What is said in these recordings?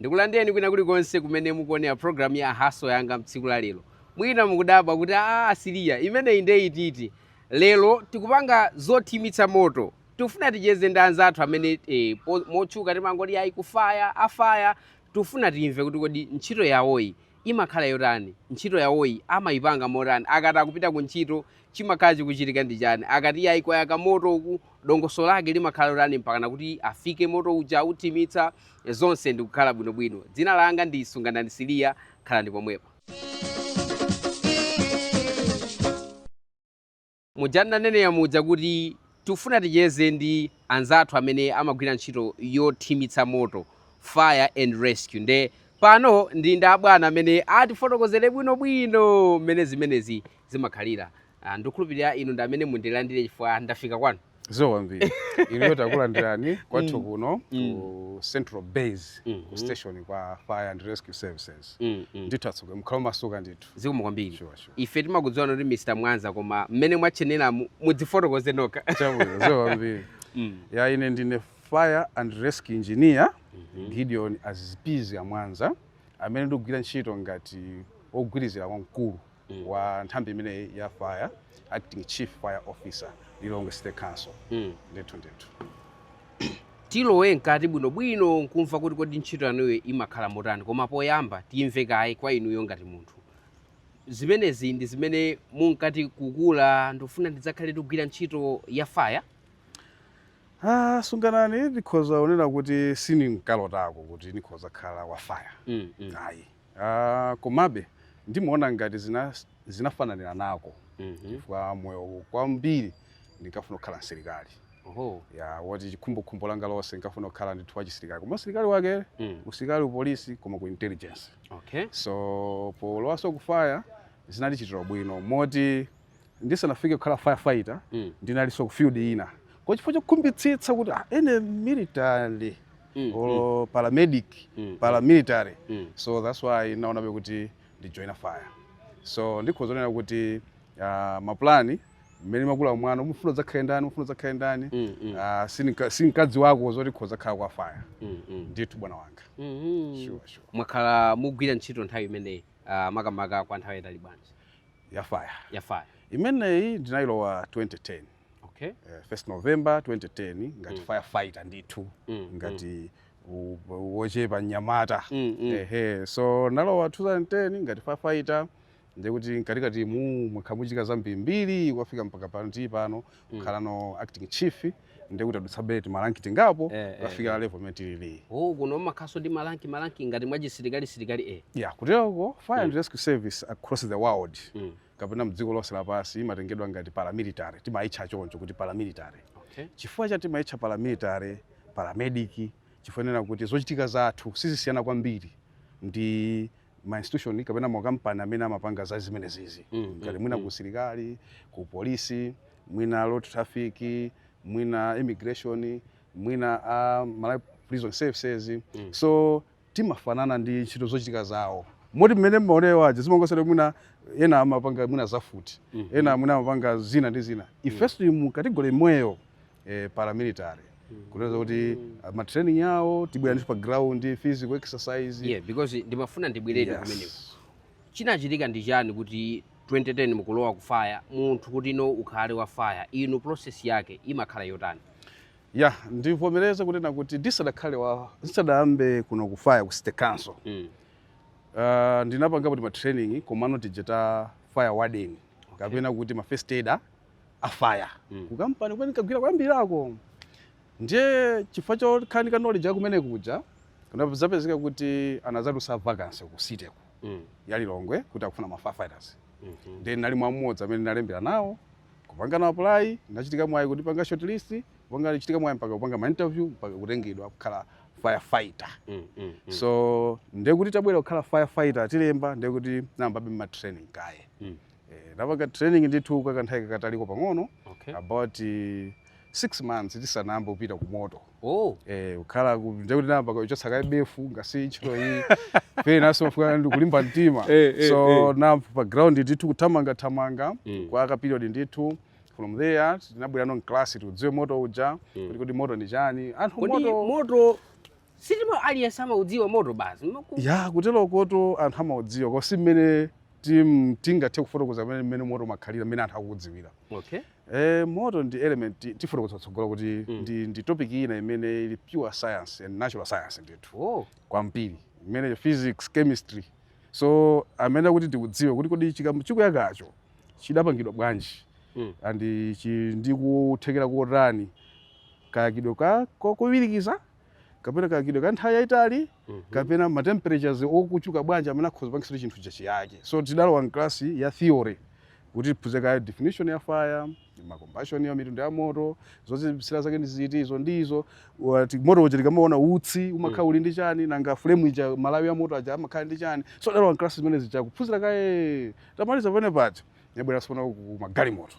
Ndikulandireni kwina kulikonse kumene mukuonera program ya Hustle Yanga mtsiku la lero. Mwina mukudabwa kuti aah Siliya imeneyi inde iti iti? Lero tikupanga zothimitsa moto. Tikufuna ticheze ndi anzathu amene eh, po- motchuka timangoti ayi ku fire, a fire. Tikufuna timve kuti kodi ntchito yawoyi imakhala yotani? Ntchito yawoyi amayipanga motani? Akati akupita ku ntchito chimakhala chikuchitika ndi chani? Akati ayi kwayaka moto uku dongosolo lake limakhala lotani mpakana kuti afike moto uja authimitse zonse ndikukhala bwinobwino dzina langa ndi sunganani siliya khalani pomwepo muja ndinanenera muja kuti tifuna ticheze ndi anzathu amene amagwira ntchito yothimitsa moto fire and rescue nde pano ndili ndi abwana amene atifotokozere bwinobwino mmene zimenezi zimakhalira ndikukhulupirira inu ndi amene mundilandire chifukwa ndafika kwanu zikomo kwambiri inuyo takulandirani kwathu Mm. kuno Mm. ku central base Mhm. station kwa fire and rescue services Mm, mm. ndithu atsogoleri mukhale omasuka ndithu zikomo kwambiri Sure, sure. ife timakudziwani kuti mr mwanza koma mmene mwatchenera mu- mudzifotokoze nokha chabwino zikomo kwambiri Mm. ya ine ndine fire and rescue engineer Mhm. gideon azipizi mwanza amene ndikugwira ntchito ngati ogwirizira kwa mkulu mm. wa nthambi imeneyi ya fire acting chief fire officer lilongwe city council mm. ndithu ndithu tilowe mkati bwinobwino ndikumva kuti kodi ntchito yanuyo imakhala motani koma poyamba timve kaye kwa inuyo ngati munthu zimenezi ndi zimene munkati kukula ndikufuna ndidzakhale ndikugwira ntchito ya faya Ah, sunganani ndikhoza kunena kuti sininkalotako kuti ndikhoza kukhala wa faya mm, mm. ayi Aaa komabe ndimaona ngati zinafananiranako mm -hmm. chifukwa moyo kwambiri ndinkafuna kukhala msilikali Oho. ya woti chikhumbokhumbo langa lonse ndinkafuna kukhala ndithu wa chisilikali koma usilikali wake mm. usilikali upolisi koma ku intelligence okay. so polowanso ku faya zinandichitira bwino moti Ndisanafike kukhala firefighter, mm. ndinalinso ku field ina. Koma chifukwa chokhumbitsitsa kuti ah, any military mm. or mm. paramedic, mm. paramilitary. Mm. So that's why ndinaonabe kuti ndi join fire. So ndikhoza kunena kuti uh, mapulani mmene umakula mwana umafuna udzakhale ndani umafuna udzakhale ndani mm, mm. uh, sinkadziwako zoti ndikhoza kukhala wa faya mm, mm. ndithu bwana wanga mm -hmm. sure, sure. mwakhala mukugwira ntchito nthambi imeneyi uh, makamaka kwa nthawi yaitali bwanji ya faya ya faya imeneyi ndinayilowa 2010 okay. uh, first november 2010 ngati mm. firefighter ndithu mm, mm. ngati mm. wochepa mnyamata mm, mm. ehe so ndinalowa 2010 ngati firefighter ndekuti mkatikatimu mwakhala mukuchitika zambirimbiri kufika mpaka pano tili pano mm. kukhalano acting chief ndi kuti ndadutsabe timalanki tingapo eh, eh, kukafika eh, level imene tilili oh kuno makhalaso ndi malanki malanki ngati mwachisilikali silikali eh yeah kuteroko fire mm. and rescue service across the world mm. kapena mdziko lonse lapansi imatengedwa ngati paramilitary timaitcha choncho kuti paramilitary okay. chifukwa chani timaitcha paramilitary paramedic chifukwa chonena kuti zochitika zathu sizisiyana kwambiri ndi ma institution kapena makampani amene amapanga za zimenezizi mm, mm ngati mwina mm, kusilikali ku polisi mwina road traffic mwina immigration mwina uh, Malawi prison services mm. so timafanana ndi ntchito zochitika zawo moti mmene mmaonera aja zimangosera mwina ena amapanga mwina za mfuti mm -hmm. ena mwina amapanga zina ndi zina mm. ifeso mu kategori imweyo eh, paramilitary kutanthauza kuti ah, ma training yawo timabwera ndithu pa ground physical exercise yeah because ndimafuna ndibwerere Yes. kumeneko chinachitika ndi chani kuti 2010 mukulowa ku fire munthu kuti no ukhale wa fire inu process yake imakhala yotani ya ndivomereze kunena kuti ndisadakhale wa ndisadayambe kuno ku fire ku city council mm. uh, ndinapangapo tima training komano tija ta fire warden kapena kuti ma first aider a fire mm. kukampani kumene nkagwira koyambirirako ndiye chifukwa chokhala ndi ka knowledge ya kumene kuja kunapezeka kuti anadzatulutsa vacancy ku city ku mm. ya Lilongwe kuti akufuna ma firefighters mm -hmm. then nali mwa mmodzi amene nalembera nawo kupanga na apply nachita mwayi kutipanga shortlist kupanga nachita mwayi mpaka kupanga ma interview mpaka kutengedwa kukhala firefighter mm, mm, mm. so ndekuti tabwera kukhala firefighter atilemba ndekuti nayambabe ma training kaye mm. Eh, napanga training ndithu kwa kanthawi kakataliko pang'ono Okay. about eh, six months tisanayambe kupita ku moto Oh. eh, kukhala ku- ndiye kuti nayamba kuchotsa kaye befu mukadziwa ntchito iyi penanso imafunika kulimba mtima Eh, eh, so nali pa ground ndithu kuthamangathamanga Mm. kwa ka period ndithu from there tinabwerano mklasi tikaudziwe moto uja kuti kodi moto ndi chani anthu Kodi moto moto Si timati aliyense amaudziwa moto basi. Maku- ya kuteroko kuti anthu amaudziwa koma si mmene tim- tingathe kufotokoza mmene mmene moto umakhalira mmene anthu akuudziwira Okay. e, moto ndi element ti- tifotokoza kutsogolo kuti Mm. ndi, ndi topic ina imene ili pure science and natural science ndithu Oh. kwambiri imene physics chemistry so amene kuti tiudziwe kuti kodi chimene chikuyakacho chidapangidwa bwanji Mm. and chi- ndi kuthekera kotani kayakidwe kake ko- kowirikiza kapena kayakidwe ka nthawi yayitali mhm. kapena ma temperatures ochuluka bwanji amene akhoza kupangitsa chinthu chija chiyake so tidalowa mklasi ya theory kuti tiphunzire kaye definition ya fire ma combustion ya mitundu ya moto zozimitsira zake ndi ziti izo ndi izo moto uja tikamaona utsi umakhala mm. uli ndi chani nanga flame ija malawi ya moto aja amakhala ndi chani so tidalowa mklasi zimene zija kuphunzira kaye tamaliza pene paja yabwera tsopano ku magalimoto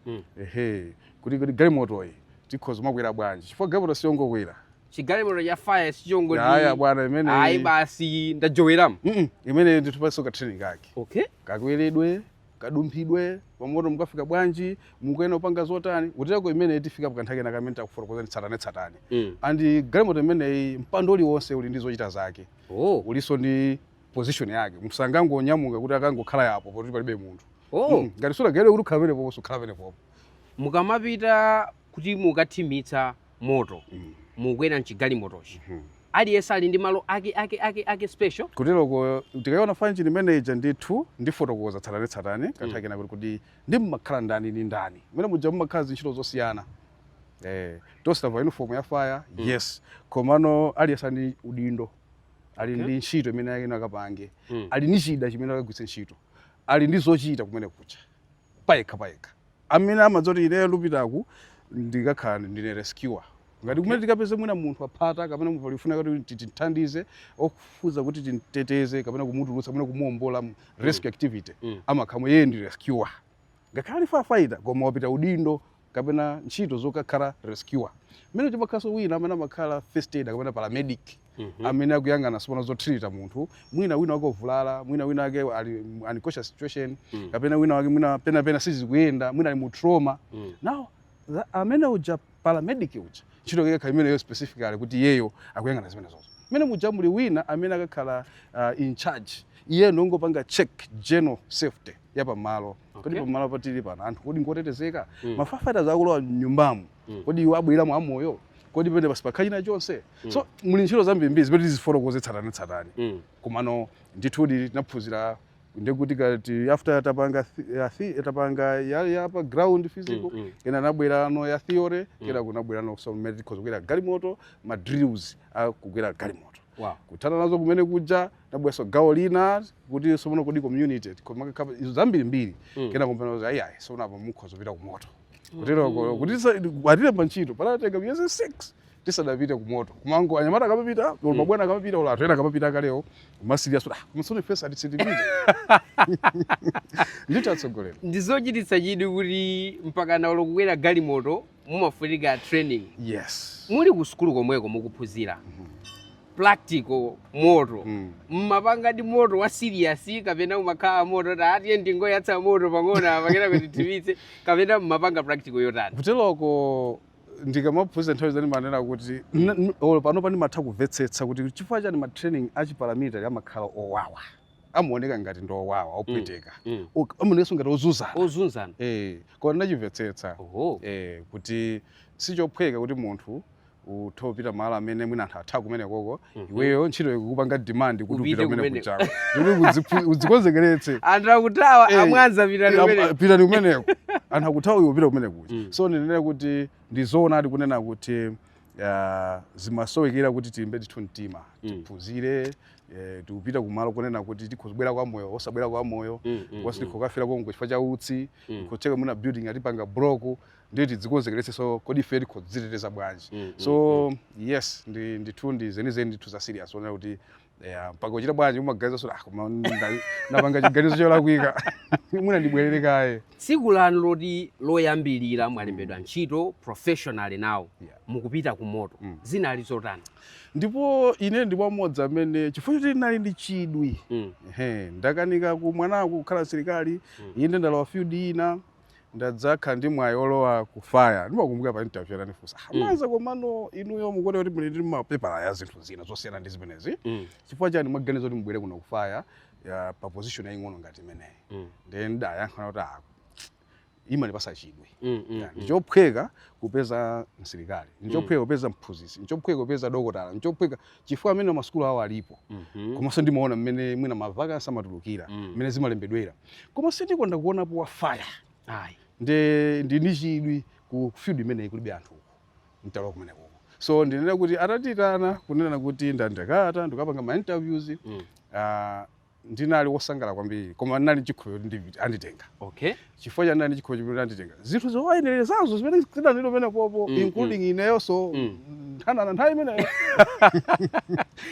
Mm. ehe kuti kuti galimotoyi tikhoza makwera bwanji chifukwa galimoto siyongokwera chigalimoto cha fire sichongoti aya bwana ayi imeneyi basi ndajoweramu Mm-mm. imeneyi nditupanso ka training kake okay kakweredwe kadumphidwe pamoto mukafika bwanji mukuyenera kupanga zotani uteko imeneyi tifika pakanthawi kena kamene takufotokozani tsatane tsatane mm. andi galimoto imeneyi mpando uliwonse uli ndi zochita zake oh ulinso ndi position yake munthu sangangonyamuka kuti akangokhala yapo poti palibe munthu oh. mm. ngati sunagawidwe kuti ukhala pamenepopo sukhala pamenepopo mukamapita kuti mukathimitse moto mm. mukwera mchigalimotochi mm -hmm. aliyense ali ndi malo ake ake ake ake special kuteroko tikayiona fire engine imeneija ndithu ndifotokoza tsatane tsatane mm. kanthawi kena kuti kuti ndi mmakhala ndani ndi ndani mmenemuja mmakhala ndi ntchito zosiyana eh, tonse tavala uniform ya fire mm. yes komano aliyense ndi udindo ali okay. ndi ntchito imene ayenera akapange mm. ali ndi chida chimene akagwiritse ntchito ali ndi zochita kumenekuja payekha payekha amene amadziwa kuti ineyo ndikupitaku ndikakhala ndine rescuer ngati kumene tikapeze mwina munthu aphata kapena munthu akufuna kuti timthandize ofuna kuti timteteze kapena kumutulutsa mwina kumuombola mm. rescue activity mm. amakhala amene iyeyo ndi rescuer Ngakhale ali fire fighter koma wapatsidwa udindo kapena ntchito yokakhala rescuer. Mmenemuja mumakhalanso wina amene amakhala first aider kapena paramedic Mhm. amene akuyang'ana tsopano zotrita munthu mwina wina wake wavulala mwina wina wake ali mu unconscious situation Mm. kapena wina wake mwina pena pake sizikuyenda mwina ali mu trauma Mm. now tha- amene uja paramedic uja ntchito yake ikakhala imeneyo specifically kuti iyeyo akuyang'ana zimenezozo mmenemuja muli wina amene akakhala uh, in charge iye ndongopanga check general safety ya pamalo kodi Okay. pamalo patili pano anthu kodi ngotetezeka Mm. ma firefighters akulowa mnyumbamu Mm. kodi iwo abweramo amoyo kodi pamenepo sipakhala china chonse Mm. so muli ntchito zambirimbiri zimene tizifotokoze tsatanetsatane Mm. komano ndithudi tinaphunzira ndekuti kaya after tapanga thi- ya thi- tapanga ya, ya pa ground physical Mm, mm. kenako nkubwerano ya theory kenako nkubweranonso mmene tikhoza kukwera galimoto ma drills a kukwera galimoto Wow. kuthana nazo kumenekuja nkubweranso gawo lina kuti tsono kodi community kumakakhala izo zambiri mbiri mm. kenako mpamene kuti ayi tsono apa mukhoza kupita kumoto mm. kutero mm. kuti atilemba ntchito panatenga miyezi 6 tisanapite kumoto kumangoona anyamata akamapita mm. mabwana akamapita ola anthu ena akamapita akalewo kumasilira so that ah, m'tsogolo nafenso atisiye tipite ndithu atsogoleri ndizochititsa chidwi kuti mpaka nawo olo kukwera galimoto mumafunika training yes muli ku sukulu komweko mukuphunzira practical moto Mm. mmapanga ndi moto wa serious kapena umakhala moto kuti ah tiyeni tingoyatsa moto pang'ono apa kenako tithimitse kapena mmapanga practical yotani kuteloko ndikamaphunzira nthawi zina ndimanena kuti n- n- olo pano pano ndimatha kumvetsetsa kuti chifukwa chani matraining achiparamilitary amakhala owawa amaoneka ngati ndi owawa opweteka Mm. Ok, amaonekanso ngati ozunzana Ozunzana. Eh, koma ndinachimvetsetsa Oho. eh, kuti sichophweka kuti munthu uthe upita malo amene mwina anthu atha kumene koko Mhm. iweyo ntchito ikukupanga demand kuti Upite upita kumene kumene. kuchako kuti udziphu- udzikonzekeretse Anthu akuthawa Eh, a Mwanza pitani Am- kumene. pitani kumeneko anthu akuthawa iwe upite kumene kuja Mm. so ndinene kuti ndizoonadi kunena kuti ah, zimasowekera kuti tilimbe ndithu mtima Mm. tiphunzire Eh, tikupita kumalo kunena kuti tikhoza kubwera kwa moyo osabwera kwa moyo Mm, mm, cause mm. tikhokafera konko chifukwa cha utsi Mm. kutsekeka mma building atipanga block ndiye tidzikonzekeretse so kodi ife tikadziteteza bwanji Mm, mm, so yes ndi ndithu ndi zenizeni ndithu za serious wonena kuti yeah, mpaka uchita bwanji umaganiza so ah, koma nda- napanga chiganizo cholakwika mwina ndibwerere kaye tsiku lanu loti loyambirira mwalembedwa ntchito professionally now Yeah. mukupita ku moto mm. zinali zotani? Ndipo ine ndi mmodzi amene chifukwa choti ndinali ndi chidwi mm. ndakanika ku mwanangu kukhala msilikali mm. inde ndalowa field ina ndadzakhala ndi mwayi olowa ku fire ndimakumbukira pa interview ananifunsa ah, mm. Mwanza komano inuyo mukuona kuti muli ndi mapepala ya zinthu zina zosiyana ndi zimenezi mm. chifukwa chani mwaganiza kuti mubwere kuno ku fire pa position yaying'ono ngati imeneyi mm. ndiye ndidayankha kuti ah, imandipatsa chidwi mm, mm, mm. ndichophweka mm. kupeza msilikali ndichophweka mm. kupeza mphunzitsi ndichophweka kupeza dokotala ndichophweka chifukwa amene masukulu awo alipo mm -hmm. komanso ndimaona mmene mwina ma vacancy amatulukira mmene mm. zimalembedwera koma sindikonda kuonapo wa fire ndi ndi ndi chidwi ku field imeneyi kulibe anthu uko nditalowa kumeneko so ndinena kuti atandiitana kunena kuti ndakata ndikapanga ma interviews mm. uh, ndinali wosangala kwambiri koma ndinali ndi chikhulupiriro kuti ndipita anditenga okay chifukwa chani ndinali ndi chikhulupiriro kuti anditenga zinthu zowayenerezazo zimene zidalipo pamenepopo Mm, including ineyonso Mm. nthanana nthawi imeneyo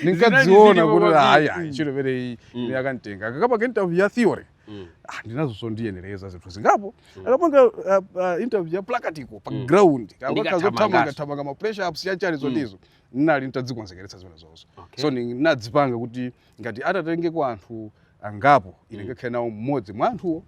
ndinkadziona zilipo kuti kwambiri. ayi ayi ntchito imeneyi Mm. ine akanditenga akakapanga interview ya theory Mm. ah, ndinazo zondiyenereza zinthu zingapo Mm. akapanga uh, uh, interview ya practical pa Mm. ground Ndikathamanga. akakazothamanga thamanga ma press ups chani chani zotizo ndinali nditadzikonzekeretsa zimenezozo okay so ndinadzipanga kuti ngati atatengeko anthu angapo ine ndikakhale nawo mmodzi mwa anthuwo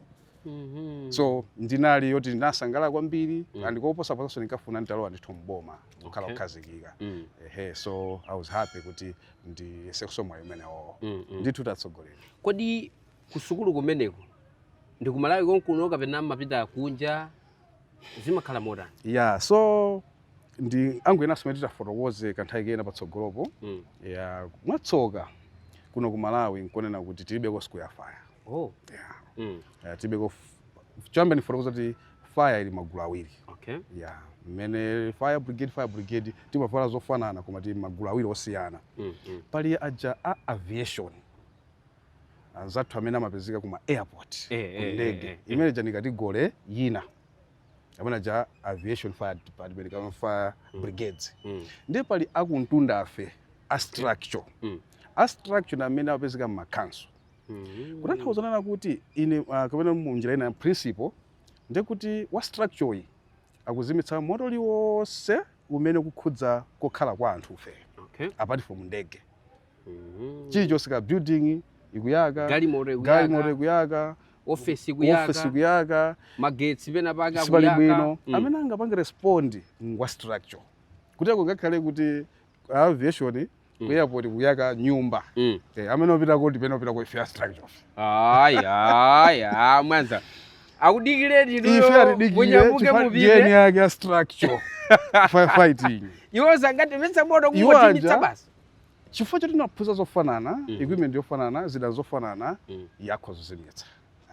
Mhm. so ndinali yoti ndinasangalala kwambiri Mm. and koposaposanso ndinkafuna nditalowa ndithu mboma kukhala Okay. kukhazikika Mm, ehe so i was happy kuti ndiyesenso mwayi umenewo mm, mm. ndithu tatsogoleranu kodi kusukulu kumeneko ndi kumalawi konkuno kapena mumapita kunja zimakhala motani yeah so ndi angu enanso omwe titafotokoze kanthawi kena patsogolopo mm. yeah mwatsoka kuno ku malawi nkonena kuti tilibeko sukulu ya fire oh. yeah. mm. yeah, tilibeko choyamba ndifotokoza kuti fire ili magulu awiri okay. yeah. mmene fire brigade fire brigade timavala zofanana koma tili magulu awiri osiyana mm, mm. pali aja a aviation anzathu amene amapezeka kuma airport eh, eh, eh, kundege eh, eh, imene ija ndi category yina amene aja aviation fire department kama fire mm. brigades mm. ndiye pali akumtunda ife a structure mm. a structure ndi amene amapezeka mu makhanso mm. kutanthauza zoona kuti ine uh, kapena mu njira ina principle ndiye kuti wa structure yi akuzimitsa moto liwonse umene kukhudza kokhala kwa anthufe okay. apart from ndege Mhm. chilichonse kaya building ikuyaka Galimoto ikuyaka. galimoto ikuyaka ofesi ikuyaka ofesi ikuyaka magetsi pena pake sipali akuyaka. bwino Mm. amene angapange respond ngwa structure kuteroko ngakhale kuti aviation ku airport kuyaka nyumba Mm. Eh, amene opita kuti pena opita ku ife a structure Ayi, ayi, ayi, mwanza akudikireni ife inuyo atidikire munyamuke chifukwa mupite jeni yake ya structure Fi- fighting iwo sangazimitse moto Iwo kungozimitsa aja- basi chifukwa choti tinaphunzira zofanana mm -hmm. equipment yofanana zida zofanana mm -hmm. zathu zozimitsa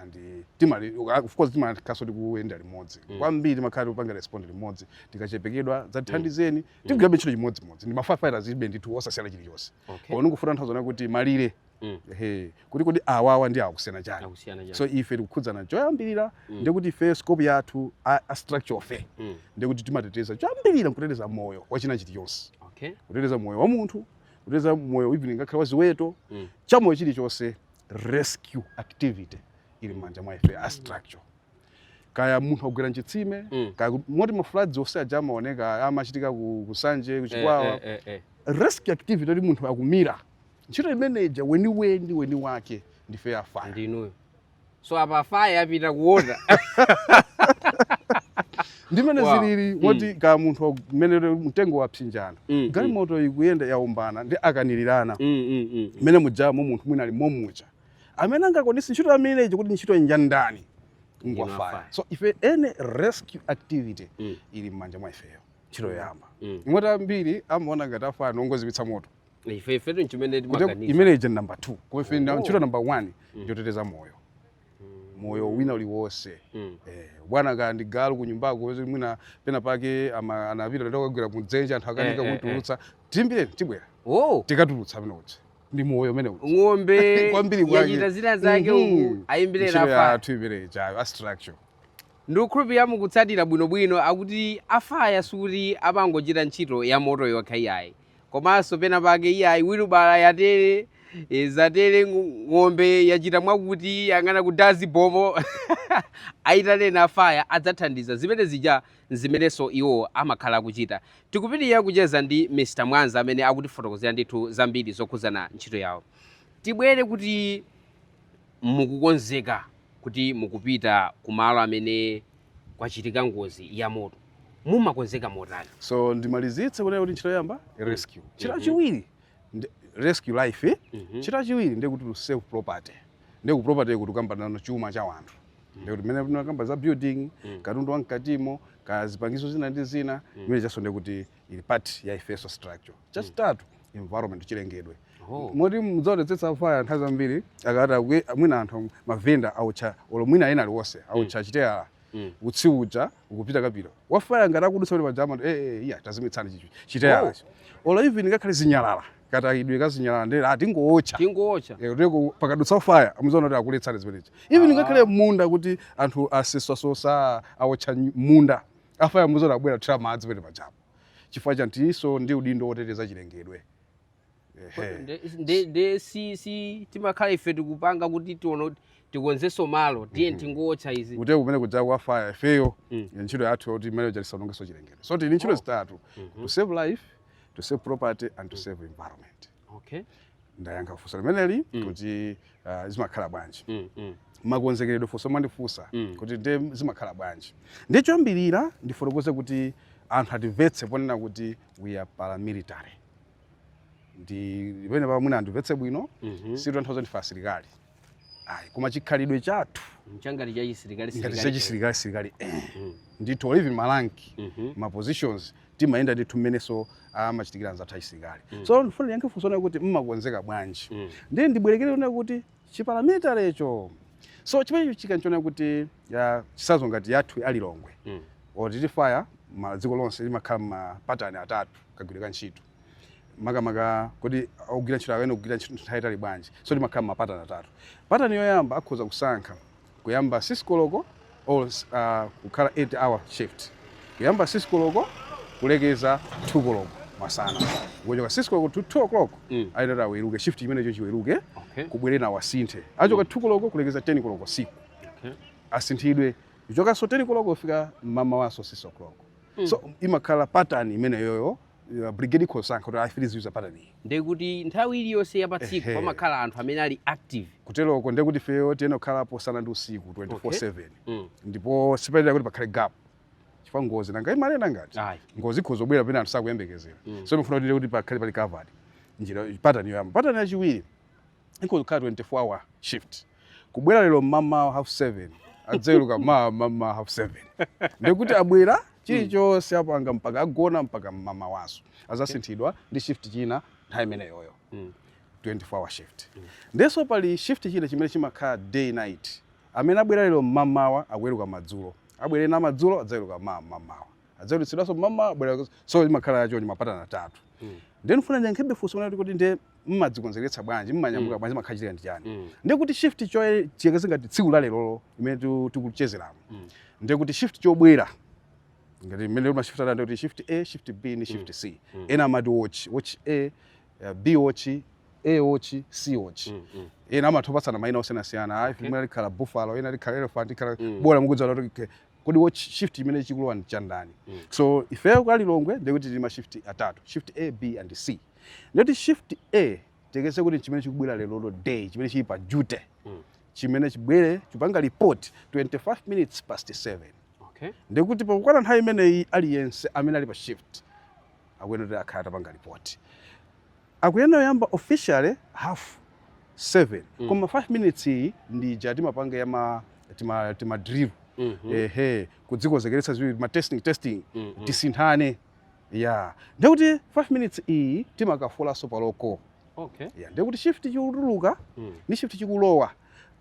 and eh, timali of course timakhalaso tikuyenda limodzi mm. kwambiri timakhala tikupanga respond limodzi tikachepekedwa zatithandizeni mm. mm. tigwirabe ntchito chimodzimodzi ndi ma firefighters ibe ndithu osasiyana chilichonse okay. pano ndikufuna nthawi zona kuti malire Mm. Ehe, kuti kodi awawa ndi awa akusiyana chani akusiyana chani so ife tikukhudzana choyambirira Mm. ndiye kuti ife scope yathu a, a structure ife Mm. ndiye kuti timateteza choyambirira nkuteteza moyo wachina chilichonse okay kuteteza moyo wa munthu kuteteza moyo even ngakhale wa ziweto Mm. chamoyo chilichonse rescue activity ili m'manja mwa ife a structure kaya munthu agwera mchitsime Mm. kaya ku- moti ma floods onse aja amaoneka amachitika ku ku Nsanje ku Chikwawa eh, eh, eh, eh. rescue activity kuti munthu akumira ntchito imene ija eni eni eni ake ndife a fire ndi inuyo so apa fire yapita kuona ndimene Wow. zilili Mm. moti kaya munthu wa- mmene lero mtengo wapsinjana Mm, mm. galimoto ikuyenda yawombana ndi akanilirana Mm, mm, mm. mmene mujamo munthu mwina ali momwemo amene angakwanitse ntchito imene ija kuti ntchito ija nja ndani ngwafaya Ngwafaya. so ife any rescue activity Mm. ili mmanja mwa ifeyo ntchito yoyamba Mm. moti ambiri amaona ngati afaya nongozimitsa moto ife ifetu nchimene Kuti timaganiza imene ija namba 2 kwa ife nda- Oh. ntchito namba 1 ndiyoteteza moyo moyo wina uliwonse Mm. Eh, bwana kaya ndi galu ku nyumbako wezi mwina pena pake ama- anapita ndakagwera kudzenje anthu akanika Eh, eh, eh. kumutulutsa tiimbireni tibwera oh tikatulutsa amene uja ndi moyo umene uja ng'ombe Kwambiri kwake. yachita zina zake uku Mhm. ayimbirera Ntchito afaya tiimbireni ifeyo a structure ndikukhulupirira mukutsatira bwinobwino akuti afaya sikuti amangochita ntchito ya moto yokha iyayi komanso pena pake iyayi wilibala yatere eh, zatere ng- ng'ombe yachita mwakuti yang'ana kudazi pompo ayitaneni afaya adzathandiza zimene zija ndi zimenenso iwo amakhala akuchita tikupitiriza kucheza ndi mr mwanza amene akutifotokozera ndithu zambiri zokhudzana ntchito yawo tibwere kuti mukukonzeka kuti mukupita ku malo amene kwachitika ngozi ya moto, mumakonzeka motani? So ndimalizitse kunena kuti ntchito yoyamba rescue, ntchito Mhm. yachiwiri ndi- rescue life, Mhm. ntchito yachiwiri ndi kuti to save property, ndiye ku property kuti tikukambano chuma cha wanthu ndiye kuti mmene tinakamba za building Mm. katundu wa mkatimo kaya zipangizo zina ndi zina zimenezijanso ndiye kuti ili part ya ifenso structure chachitatu environment chilengedwe Oh. moti mudzaonetsetsa afaya nthawi zambiri akati akwi- mwina anthu mavenda awotcha olo mwina ena aliwonse awotcha chiteyala Mm. utsi uja ukupitapita wafaya ngati akudutsa kuti paja eh, eh, iya tazimitsani ichi chiteyala olo even ngakhale zinyalala katayidwe kazinyalala nde ati tingootcha tingootcha Eh, kuteko pakadutsa afaya mudzaona kuti akuletsani zimenezo even ngakhale munda kuti anthu asosasosa awotcha nyu- munda afaya mudzaona abwera kuthira madzi penepajapo chifukwa choti tilinso ndi udindo woteteza chilengedwe nde si si timakhala ife tikupanga kuti tiona tikonzenso malo tiye mhm. tingotcha izi kuti kumene kuja ku fire ifeyo mm. ntchito yathu ndi yoti mmene uja tisaonongenso chilengedwe so tili ndi ntchito oh. zitatu mm-hmm. to save life to save property and to mm. save environment Okay. Ndiyankhe funso limeneli mm. kuti uh, zimakhala bwanji mm, mm. makonzekeredwe funso lomwe mwandifunsa mm. kuti nde zimakhala bwanji ndiye choyambirira ndifotokoze kuti anthu atimvetse ponena kuti we are paramilitary ndi pamenepa mwina andimvetse bwino mm -hmm. sizitanthauza ndife asilikali ayi koma chikhalidwe chathu ndi cha ngati cha chisilikali ngati silikali. chachisilikali silikali eh. Mm. ndithu tili ndi malanki Mhm. ma positions timayenda ndithu mmenenso amachitikira anzathu achisilikali Mm. so ndifuna ndiyankhe funso lanulo kuti mumakonzeka bwanji Mm. ndiye ndibwerere kunena kuti chiparamilitarycho so chimenecho chikuonetsa kuti ya chitsanzo ngati yathu ya lilongwe Mm. or titi faya maiko onse imakhala mapatani atatu kagwiridwe ka ntchito makamaka kodi ogwira ntchito akuyenera kugwira ntchito nthawi yaitali bwanji so imakhala mapatani atatu patani yoyamba akhoza kusankha kuyamba 6 koloko or uh, kukhala 8 hour shift kuyamba 6 koloko kulekeza 2 koloko masana kuchoka 6 koloko to 2 o'clock mm. ayenera kuti aweruke shift imeneyo iweruke okay. kubwere ena awasinthe kuchoka mm. 2 koloko kulekeza 10 koloko usiku okay. asinthidwe kuchokanso 10 koloko kufika mmamawanso 6 o'clock mm. so imakhala patani imeneyoyo uh, brigade ikhosankha kuti ayi ife tiziyuza pattern iyi ndiye kuti nthawi iliyonse ya patsiku Ehe. pamakhala anthu amene ali active kuteroko ndiye kuti ifeyo tiyenera kukhalapo usana ndi usiku 24/7 mm. ndipo sipayenera kuti pakhale gap chifukwa ngozi nanga imanena ngati ngozi ikhoza kubwera pena anthu sakuyembekezera Mm. so imafuna kuti kuti pakhale pali covered ndiye pattern yoyamba pattern yachiwiri ikhoza kukhala 24 hour shift kubwera lero mmamawa half 7 adzaweruka mawa mmamawa half 7 ndikuti abwera chilichonse apanga mpaka agona mpaka mmamawanso azasinthidwa ndi shift china nthawi imeneyoyo 24 hour shift ndenso pali shift china chimene chimakhala day night amene abwera lero mmamawa akuweruka madzulo abwere ena madzulo adzaweruka mawa mmamawa adzawerutsidwanso mmawa abwera so imakhala ya choncho mapatana atatu mm. ndiye ndifuna ndiyankhebe funso munati kuti ndiye mmadzikonzekeretsa bwanji mmanyamuka mm. bwanji makhachitika ndi chani mm. ndiye kuti shift tiyerekeze ngati tsiku la lerolo imene tikucheza muno mm. ndiye kuti shift chobwera ngati mmene mashift atatu kuti shift a shift b ndi shift mm. c mm. ena amati watch watch a uh, b watch a watch c watch mm, mm. ena amathopatsana maina osiyanasiyana okay. imene likhala buffalo ena likhala elephant ikhala mm. bola mukudziwa kuti kodi watch shift chimene chikulowa ndi chandani mm. so ifeyo kwa lilongwe ndiye kuti tili ma shift atatu shift a b and c ndiye kuti shift a tiyerekeze kuti chimene chikubwera lerolo day chimene chili pa duty mm. chimene chibwere chipanga report 25 minutes past 7 okay. ndikuti pakukwana nthawi imeneyi aliyense amene ali pa shift akuyenera kuti akhala atapanga report Akuyenera kuyamba officially half 7 mm. koma 5 minutes iyi ndi ija timapanga ya ma tima, tima drill mm -hmm. ehe kudzikonzekeretsa ziwiri ma testing testing mm -hmm. tisinthane ya ndekuti 5 minutes iyi timakafulanso pa roll call okay. ya ndekuti shift chikutuluka mm. ndi shift chikulowa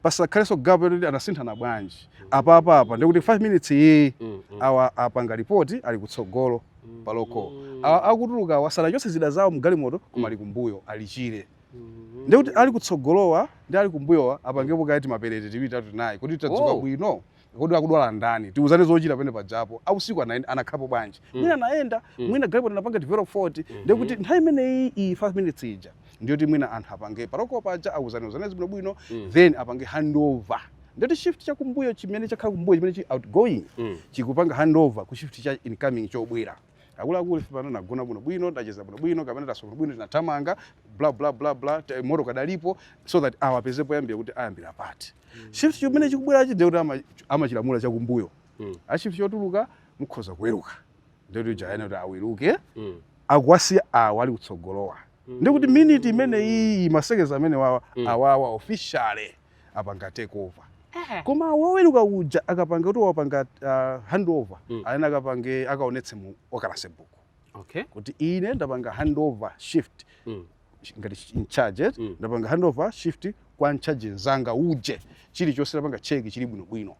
pasakhalenso gapo yoti anasinthana bwanji apa apa apa ndikuti 5 minutes iyi Mm, mm. awa apanga ripoti ali kutsogolo pa roll call awa akutulukawa sanachotse zida zawo mgalimoto koma ali kumbuyo alichire Mm. ndikuti ali kutsogolowa ndi ali kumbuyowa apangepo kaya timaparade tiwiri tatu tinayi kuti tadzuka Oh. bwino kodi akudwala ndani tiuzane zochita pene pajapo ausiku anaenda- anakhalapo bwanji Mm. mwina anayenda Mm. mwina galimoto anapanga develop fault Mhm. ndiye kuti nthawi imeneyi iyi 5 minutes ija ndiyoti mwina anthu apange pa roll call paja auzane uzane bwino bwino Mm. then apange handover ndiyoti shift chakumbuyo chimene chakhala kumbuyo chimene chi outgoing Mm. chikupanga handover ku shift cha incoming chobwera akuluakulu ife pano tinagona bwinobwino tacheza bwinobwino kapena taswera bwinobwino tinathamanga bla bla bla bla te- moto kadalipo so that awapeze poyambira kuti ayambira pati shift chimene chikubwerachi ndekuti ama- amachilamula chakumbuyo Mm. a shift chotuluka mukhoza kuweruka ndekuti jayana kuti aweruke Mm. akuwasiya awa ali kutsogolowa ndikuti miniti imene iyi ma seconds amenewawa Mm. awawa officially apanga take over eh. koma woweruka uja akapanga kuti wapanga uh, hand over mm. ayenera akapange akaonetse mu occurrence book okay. kuti ine ndapanga hand over shift mm. ngati in charge eh? mm. ndapanga hand over shift kwa in charge nzanga uje chilichonse ndapanga cheki chili bwinobwino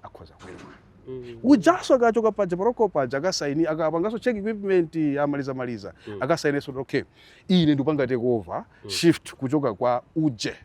akhoza kuweruka Mm. ujaso akachoka paja pa roll call paja akasaini akapangaso check equipment amaliza maliza mm. akasainiso okay ine ndipanga take over mm. shift kuchoka kwa uje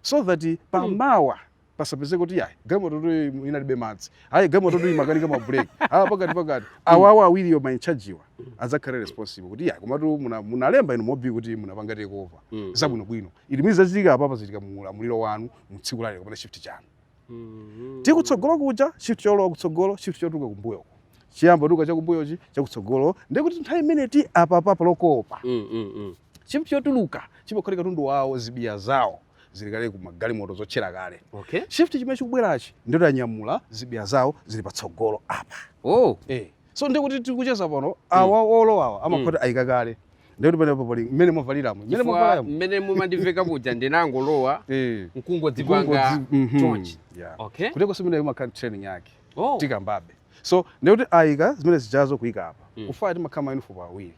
so that pamawa pasapezeke kuti yayi galimototu iyi inalibe madzi ayi galimototu imakanika ma brake awa pakati pakati awawa awiriyo ma in charge wa adzakhale responsible kuti yayi komatu muna- munalemba inu mu OB kuti munapanga take over Mm. zabwino bwino ili mwizi zachitika apapa zachitika mu ulamuliro wanu mu tsiku lake kapena shift chanu Mm. tikutsogolo kuja shift cholowa kutsogolo shift chotuluka kumbuyo chiyamba tuka chakumbuyochi chakutsogolo ndikuti nthawi imene tili apapa pa roll call pa Mm, mm, mm. Shift chotuluka chimakhoti katundu wawo zibiya zawo zili kale ku magalimoto zotchera kale okay shift chimene chikubwerachi ndiye kuti anyamula zibiya zawo zili patsogolo apa oh eh so ndiye kuti tikucheza pano awa olowa awa amakhoti ayika kale ndiye kuti pano pali mmene mwavaliramo mmene chifukwa mwavaliramo mmene mumandiveka muja ndinangolowa eh nkungodzipanga Nkungodzi- mhm. chonchi Yeah. okay kuteko si mmene imakhala training yake oh tikambabe so ndiye kuti ayika zimene zijazo kuyika apa Mm. ku fire timakhala mauniform awiri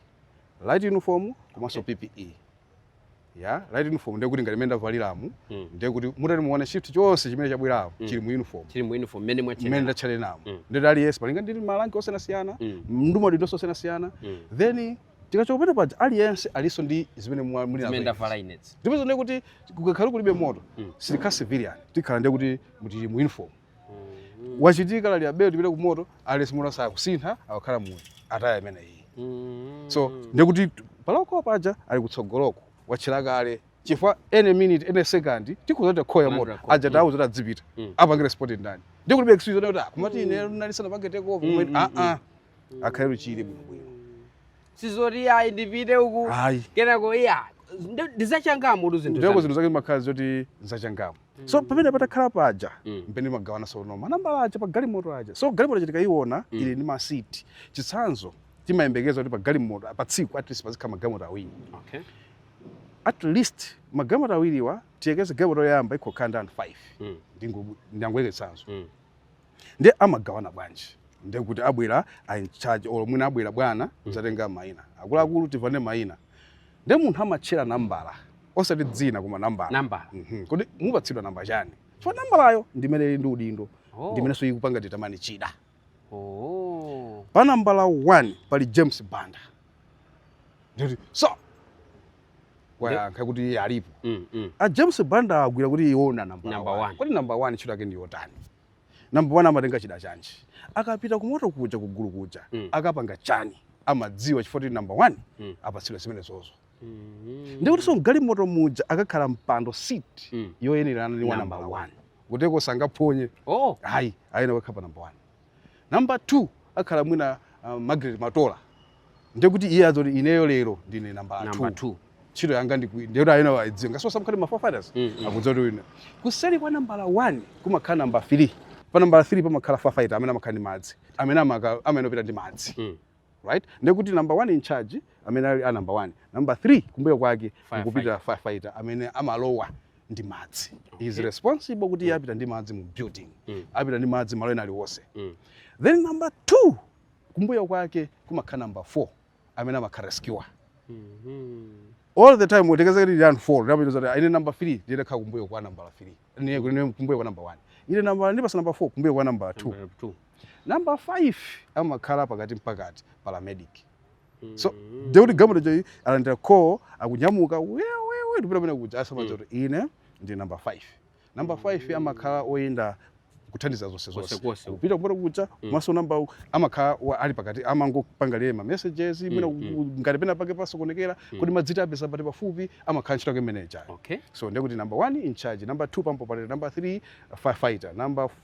light uniform komanso okay. PPE ya light uniform ndiye kuti ngati mmene ndavaliramo mm. ndiye kuti mutati muone shift chonse chimene chabwerapo mm. chili mu uniform chili mu uniform mmene mwatchena mmene ndatchenamo mm. ndiye kuti aliyense malinga ndi ma rank osiyanasiyana mm. ndi maudindoso osiyanasiyana mm. then tikachokopeta paja aliyense alinso ndi zimene muli nazo inuzo ndiye kuti kukakhala kulibe moto mm. sitikhala civilian tikhala ndiye kuti tili mu uniform wachitika lalira belo tipite ku moto aliyense moto sakusintha akakhala mu attire imene iyi so ndiye kuti pa roll call paja ali kutsogoloko watchera kale chifukwa any minute any second tikhoza kuti akhoya moto Another call. aja tawo zoti adzipita Mm. apange respond ndani nde kulibe excuse kuti ah, kumati ine ndinali ndisanapange take over Mm, kumene mm, ah ah akhale luchire bwino bwino sizoti ayi ndipite uku ayi kenako iya ndi zachangamutu zinthu ndeko zanu. zinthu zake zimakhala zoti zachangamu so pamene patakhala paja Mm. mpamene timagawana tsono manambala aja pa galimoto aja so galimoto ija tikaiona Mm. ili ndi masiti chitsanzo timayembekeza kuti pa galimoto pa tsiku at least pazikhala magalimoto awiri Okay. at least magalimoto awiriwa tiyekeze galimoto yoyamba ikhokhala ndi anthu 5 Mm. ndangoyika chitsanzo Mm. nde amagawana bwanji nde kuti abwera a in charge olo mwina abwera bwana mm. kuzatenga maina akuluakulu timvane maina nde munthu amatchera nambala osati dzina koma nambala nambala mm -hmm. kodi mupatsidwa namba chani chifukwa nambalayo ndimene ili ndi udindo oh. ndimenenso ikupanga determine chida oh. pa nambala 1 pali james banda ndikuti so wayankha kuti iye alipo mm, mm. a james banda adziwa kuti iwo ndi namba Number one. kodi namba 1 ntchito yake ndi yotani namba 1 amatenga chida chanji akapita kumoto kuja kugulu kuja Mm. akapanga chani amadziwa chifukwa kuti namba 1 Mm. apatsidwa zimenezozo Mm. ndiye kutinso mgalimoto muja akakhala mpando seat Mm. yoyenerana ndi wa Number namba 1 kuteko sangaphonye oh ayi ayeneka wakhala pa namba 1 Number two, akhala mwina uh, Margaret Matola. Ndiye kuti iye adziwa zoti ineyo lero ndine nambala Number 2. two. Ntchito yanga ndi iyi. Ndiye kuti ayeneka wayidziwa. Ngakhalenso ma firefighters. Mm, mm. Akudziwa kuti wina. Kuseri kwa nambala 1 kumakhala namba 3. Pa nambala 3 pamakhala firefighter amene amakhala ndi madzi. Amene amaka amenyawo apita ndi madzi. Mm. right ndiye kuti number one in charge amene ali pa number one number three kumbuyo kwake kukhala firefighter amene amalowa ndi madzi okay. is responsible kuti mm. apita ndi madzi mu building mm. apita ndi madzi malo ena aliwonse mm. then number two kumbuyo kwake kumakhala number four amene amakhala rescuer mm -hmm all the time utekeza kuti ndiyani four ndipo iwo zoti ine number 3 ndiyenera kukhala kumbuyo kwa number 3 ni ni kumbuyo kwa number 1 ine number ndapatsidwa number 4 kumbuyo kwa number 2 Number five amakhala pakati mpakati paramedic. So mm-hmm. ndiye kuti gamulo choyi alandira call akunyamuka wewewe ndipita kumene kuja azimadziwa mm. kuti ine ndi number five. Number mm. five amakhala oyenera kuthandiza zonse zonse kupita kumene kuja komanso mm. namba amakhala ali pakati amangopanga relay ma messages imene ngati pena pake pasokonekera kodi madzi tiwapeza pati pafupi amakhala ntchito yake messenger so ndiye kuti number one in charge number two pump operator number three firefighter number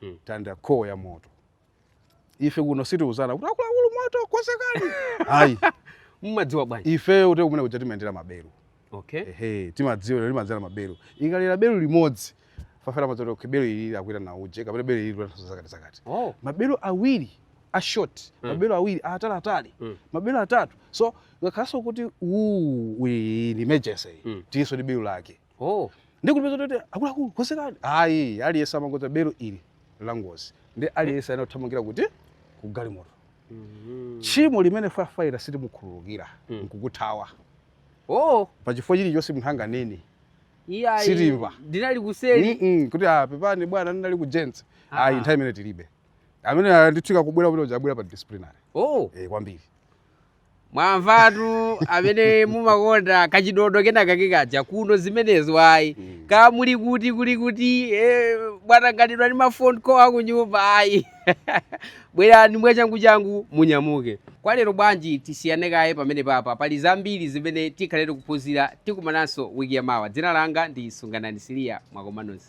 Hmm. talandira call ya moto ife kuno sitiuzana kuti akuluakulu moto konzekani ayi mmadziwa bwanji ifeyo kuti kumene kuja timayendera maberu okay ehe timadziwa lero timadziwira maberu ikalira beru limodzi firefighter amadziwa zoti okay beru ili akuitana uje kapena beru ili linanso zakati zakati oh maberu awiri a short Mm. maberu awiri a atali atali Mm. maberu atatu so ngakhalenso kuti uu iyi ndi emergency Mm. tilinso ndi beru lake oh ndi kuti kuti akuluakulu konzekani ayi aliyense amangodziwa belo ili la ngozi ndi aliyense ayenera kuthamangira kuti ku galimoto Mhm. tchimo limene firefighter sitimukhululukira Mm. nkukuthawa oh pa chifukwa chilichonse munthu anganene iya iyi. Sindinamve. ndinali kuseli Mm-mm, kuti ah, pepani bwana ndinali ku gents Ah. ayi nthawi imeneyo tilibe imene ah, n'kutheka kubwera kuti udzabwera pa disciplinary oh eh, kwambiri mwamvatu amene mumakonda kachidodo kenakake kaja kuno zimenezo ayi Mm. kaya muli kuti kuli kuti eh, mwatanganidwa ndi ma phone call akunyumba ayi bwerani mwachanguchangu munyamuke kwa lero bwanji tisiyane kaye pamene papa pali zambiri zimene tikhale tili kuphunzira tikumananso wiki yamawa dzina langa ndi sunganani siliya mwakoma nonse